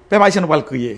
Pèp ayisyen nou pral kriye.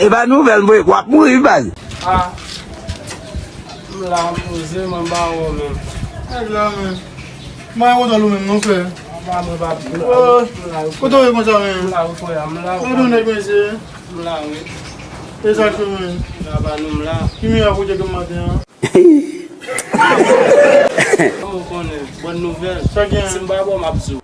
Epa nouvel vre wap mouri baz.